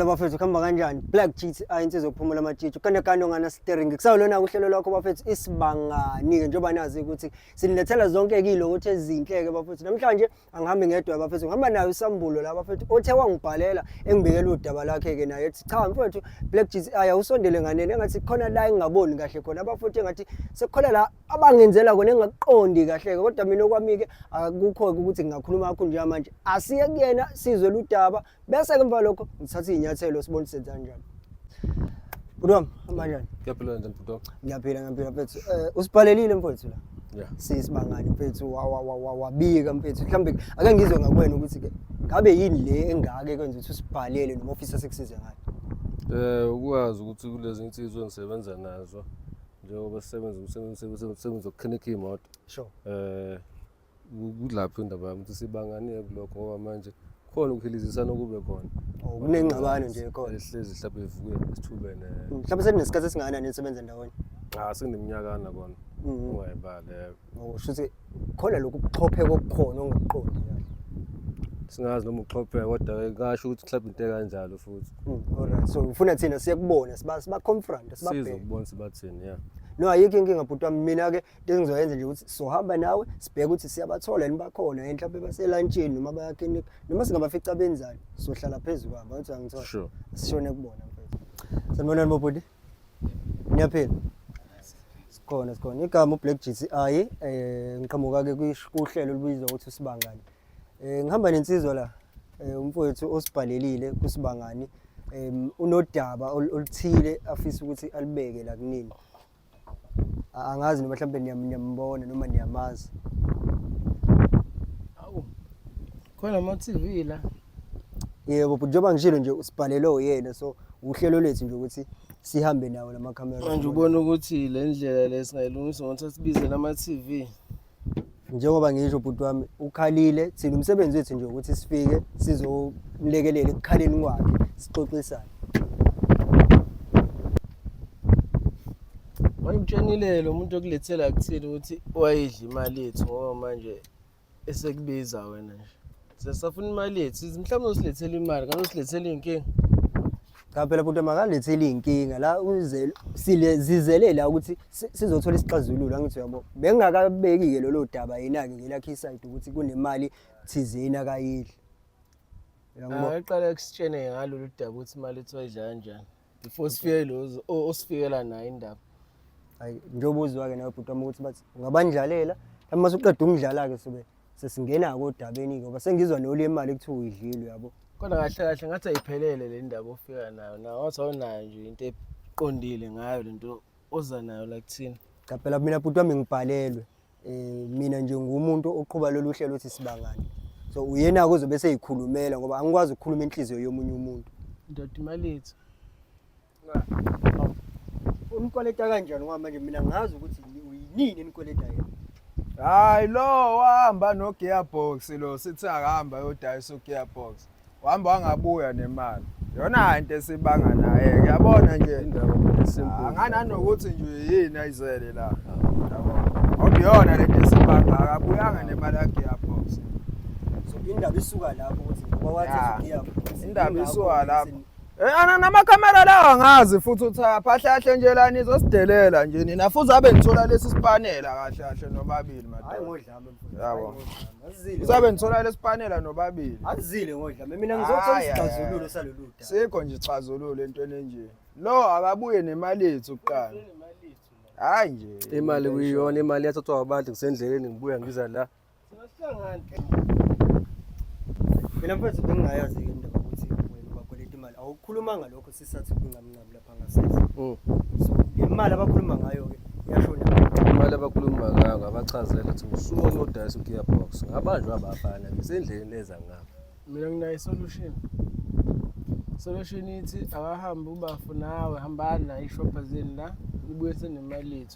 bafethu kuhamba kanjani black cheat ayi insizwa yokuphumula amatshitshi ukanekane onganasiteringi kusawulona-ke uhlelo lwakho bafethu isibangani-ke njengoba nazi ukuthi sinilethela zonke-ke ilokothi ezinhle-ke bafethu namhlanje angihambi ngedwa bafethu ngihamba nayo usambulo la bafethu othe wangibhalela engibekela udaba lakhe-ke naye ethi cha mfethu black cheat ayi awusondele nganeni engathi khona la engingaboni kahle khona bafethu engathi sekukhona la abangenzela kona engakuqondi kahle-ke kodwa mina okwami-ke akukho-ke ukuthi ngingakhuluma kakho njengamanje asiye kuyena sizwe ludaba Bese-ke emva lokho ngithatha iy'nyathelo sibone senza kanjani. Bhuti wami, amanjani? Ngiyaphila kanjani bhuti wami? Ngiyaphila, ngiyaphila mfethu. Eh, usibhalelile mfethu la. Yeah. Sisibangani mfethu wa- wa- wa- wa- wabika mfethu. Mhlawumbe ake ngizwe ngakuwena ukuthi-ke ngabe yini le engaka ekwenza ukuthi usibhalele noma ofisa sekusize ngayo. Eh ukwazi ukuthi kulezi insizwa engisebenza nazo njengoba sisebenza umsebenzi umsebenzi- umsebenzi wokukhinikha imoto. Sure. Eh kudlaphi indaba yami ukuthi sibangane kulokho ngoba manje khona ukuhilizisana okube khona oh, kunengxabano nje khona ehlezi mhlawumbe ivuke esithubene mm, mhlawumbe seninesikhathi esingakanani nisebenza ndawonye cha ah, sendiminyakana kona mm. ungayibale oh, usho ukuthi khona lokhu kuxhopheka okukhona ongakuqondi singazi noma uxhopheka kodwa ngasho ukuthi mhlawumbe into ekanjalo futhi mm, alright so ufuna thina siye kubona siba siba confront sibabheke sizobona sibathini yeah no ayikho inkinga bhuti wami mina ke into engizoyenza nje ukuthi sohamba nawe sibheke ukuthi siyabathola yini bakhona yini mhlawumbe baselantshini noma bayakini noma singabafica benzani sohlala phezu kwabo ukuthi angithola sure. sishone kubona mfethu sanibonani bobhuti niyaphila sikhona sikhona igama ublack gci um eh, ngiqhamuka-ke kwish- kuhlelo olubizwa ukuthi usibangani um ngihamba nensizwa la um umfowethu osibhalelile kusibangani um unodaba ol- oluthile afisa ukuthi alibeke la kunini A- angazi noma mhlawumbe niyam- niyambona noma niyamazi Awu. Khona ama TV la. yebo but njengoba ngishilo nje usibhalelwe uyena so uhlelo lethu nje ukuthi sihambe nawo lamakhamera Manje ubona ukuthi le ndlela lesingayilungisa ngokuthi asibizele ama TV. njengoba ngisho bhuti wami ukhalile thina umsebenzi wethu nje ukuthi sifike sizomlekelela ekukhaleni kwakhe sixoxisane wayimtshenile lo muntu okulethela kuthile ukuthi wayidla imali yethu ngoba manje esekubiza wena nje sesafuna imali yethu mhlawumbe usilethela imali kanti usilethela iy'nkinga Cha phela bhuti makalethe leyinkinga la uzele sile zizele la ukuthi si- sizothola isixazululo angithi uyabo. Bengingakabeki ke lolo daba yena ke ngelakhe iside ukuthi kunemali thizeni akayidli. Uyangibona? Akaqala ekusitshene ngalolu daba ukuthi imali ethiwa idla kanjani. Before sifike lozo o- osifikela nayo indaba. Hayi njengoba uzwa ke nawe bhuti wami ukuthi bathi ungabandlalela. Mase uqeda ukungidlala ke sobe. sesingena ke odabeni ke ngoba sengizwa noli imali kuthiwa uyidlile uyabo kodwa kahle kahle ngathi ayiphelele le ndaba ofika nayo nawe wathi awunayo nje into eqondile ngayo le nto oza nayo la kuthina cha phela mina bhuti wami ngibhalelwe um mina nje ngumuntu oqhuba lolu hlelo othi sibangane so uyena-ke ozobe seyikhulumela ngoba angikwazi ukukhuluma inhliziyo yomunye umuntu ndoda imali yethu Unikweleta kanjani ngoba manje mina ngazi ukuthi uyinini enikweleta yena. Hayi lo wahamba no gearbox lo sithi akahamba yodayisa ugearbox. Wahamba wangabuya nemali. Yona into esibanga naye uyabona nje indaba esimple. Angananokuthi nje yini ayizele la. Ngiyona lento esibanga akabuyanga nemali yakhe yaphosa. So indaba isuka lapho ukuthi ngoba wathi ugiya. Indaba isuka lapho. Eh, ana namakhamera lawa ngazi futhi uthi aphahlahle nje la nizosidelela nje nina futhi abe nithola lesi sipanela kahle kahle nobabili madoda ngodlame yabo usabe nithola lesi sipanela nobabili azile ngodlame mina ngizothola isixazululo salolu daba sikho nje isixazululo entweni enje lo akabuye nemali yethu kuqala hayi nje imali kuyiyona imali yathathwa abantu ngisendleleni ngibuya ngiza la Mina mfethu bengingayazi ke indaba ukuthi wena ubakweleta imali. Awukhulumanga lokho sisathi kungamnqabi lapha ngasese. Mm. So le mali abakhuluma ngayo ke yashona. Imali abakhuluma ngayo ngabachazela ukuthi usuke uyodayisa ugearbox. Ngabanjwa abafana ngisendleleni leza ngabo. Mina nginayo solution. Solution ithi akahambe ubafu nawe hambani nayo ishopha zeni la nibuye senemali yethu.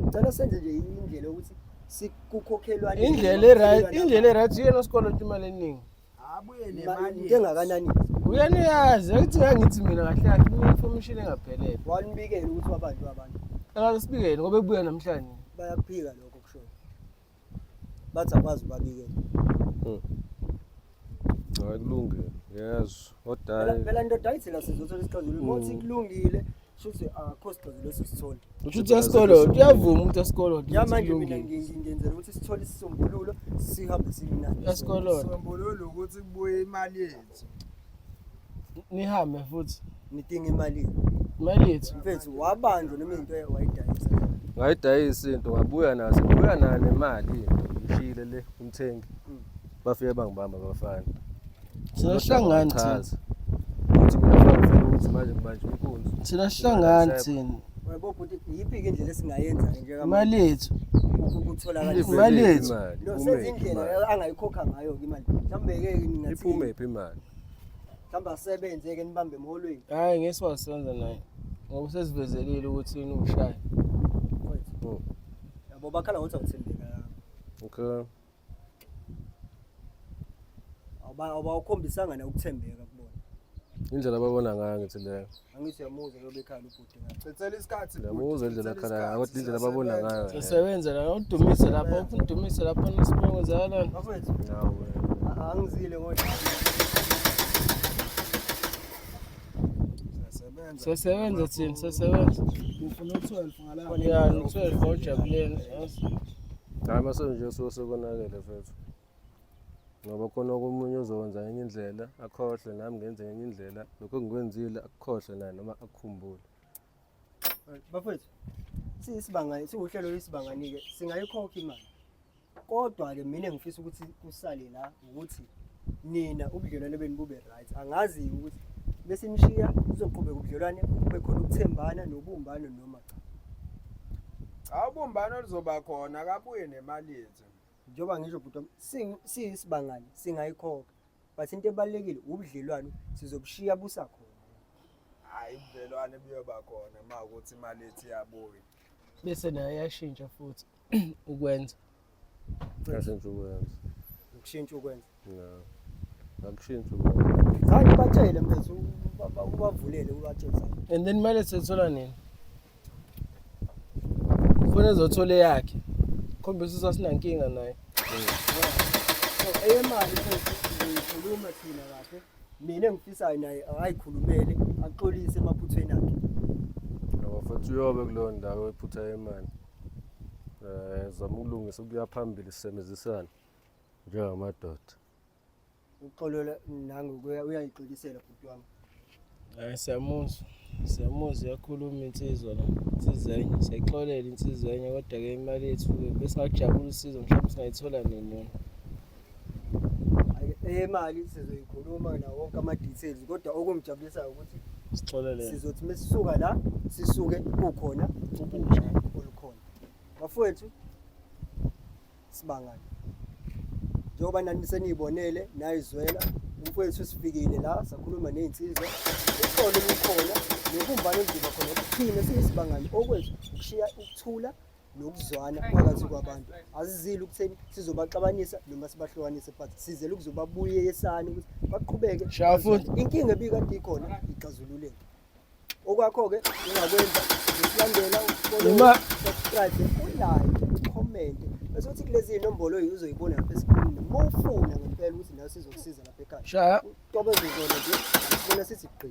ngicela senze nje indlela yokuthi sikukhokhelwane indlela eright indlela eright uyena osikoloto imali eningi abuye nemali into engakanani uyena uyazi ukuthi ngangithi mina kahle kahle une-information engaphelele wanibikela ukuthi wabantu abantu akasibikele ngoba ebuya namhlanje bayakuphika lokho kushoyo bathi akwazi ubabikela hmm. hayi kulungile yes kodwa phela ndoda ayithi la sizothola isixazululo hmm. ngothi kulungile shuthi akho ah, sixazululo esisithole ushuthi esikolo uyavuma umuntu esikolo ya manje mina ngingenzela ukuthi sithole isisombululo sihambe silinani esikolo sombululo ukuthi kubuye imali yethu nihambe futhi nidinga imali imali yethu mfethu wabanjwa noma into wayidayisa ngayidayisa into ngabuya nazo buya nayo nemali ishile le umthengi mm. bafike bangibamba abafana siyahlangana thina ukuthi mina ngifuna ukuthi manje ngibanje inkunzi thina sihlangana thina Yebo bhuti yiphi ke indlela esingayenza ke njengamanje? Imali yethu. Ukutholakala imali yethu. No senze indlela angayikhokha ngayo ke imali. Mhlambe ke ngingathi iphume phi imali? Mhlambe asebenze ke nibambe emholweni. Hayi ngeke siwasenza naye. Ngoba usesivezelile ukuthi yini ushaya. Yabo bakhala ngothi awuthembekanga. Okay. Awuba awukhombisanga na ukuthembeka kubona. Indlela ababona ngayo ngithi leyo. Angithi yamuzwa lobe ekhaya ubhuti ngathi. Cecela isikhathi. Yamuzwa indlela akhala ngayo, kodwa indlela ababona ngayo. Usebenza la udumise lapho udumise lapho nisibongo zala. Bafethu. Nawe. Angizile ngoba Sesebenza thina, sesebenza. Ufuna u-12 ngalapha. Yeah, u-12 ngojabuleni. Hayi mase nje usuke sekonakele mfethu. Ngoba khona omunye uzokwenza ngenye indlela akhohlwe nami ngenze ngenye indlela lokho engikwenzile akukhohlwe naye noma akukhumbule. Bafethu siyisibanga siwuhlelo lwesibanganike singayikhokha imali. Kodwa-ke mina ngifisa ukuthi kusale la ukuthi nina ubudlelwane benu bube right angazi ukuthi bese imshiya uzoqhubeka ubudlelwane kube khona ukuthembana nobumbano noma cha cha ubumbano lizoba khona akabuye nemali yethu njengoba ngisho bhuti wami si- siyisibangane singayikhokha but into ebalulekile ubudlelwane sizobushiya busakhona hayi ubudlelwane buyoba khona ma ukuthi imali yethu iyabuya bese naye yashintsha futhi ukwenza ngashintsha ukwenza ukushintsha ukwenza ngakushintsha ukwenza zange batshele mfethu ubavulele ubatshele and then kumele sethola nini funa ezothola eyakhe khombisa usasinankinga naye eyemali khuluma thina kahle mina engifisayo naye akayikhulumele axolise emaphuthweni akhe ngoba futhi uyobe kuleyo ndawo ephutha yemali um zama ukulungisa ukuya phambili sisebenzisana njengamadoda uxolola nangokuya uyayixolisela bhuti wami um siyamuzwa siyamuzwa iyakhuluma insizwa la insizenye siyayixolela insizenye kodwa-ke imali yethu-ke besingakujabula usizo mhlawumbe singayithola nini yona eyemali eh, sizoyikhuluma nawo wonke ama-details kodwa okungijabulisayo ukuthi sixolele sizothi uma sisuka la sisuke kukhona ubusha olukhona bafowethu sibangane njengoba nani seniyibonele nayizwela umfowethu sifikile la sakhuluma ney'nsizwa uxolo lukhona nobumbano oludlula khona okuthina siyisibangane okwethu ukushiya ukuthula nokuzwana phakathi kwabantu asizile ukutheni sizobaxabanisa noma sibahlukanise but sizele ukuzobabuyeyesana ukuthi baqhubeke Shaya futhi. inkinga ebikade ikhona ixazululeke okwakho-ke ungakwenza usilandela Uma- subscribe ulike comment bese uthi kulezi inombolo yi- uzoyibona lapha esikhulwini uma ufuna ngempela ukuthi nayo sizokusiza lapha ekhaya Shaya. uqobezizona nje sibona sithi gqi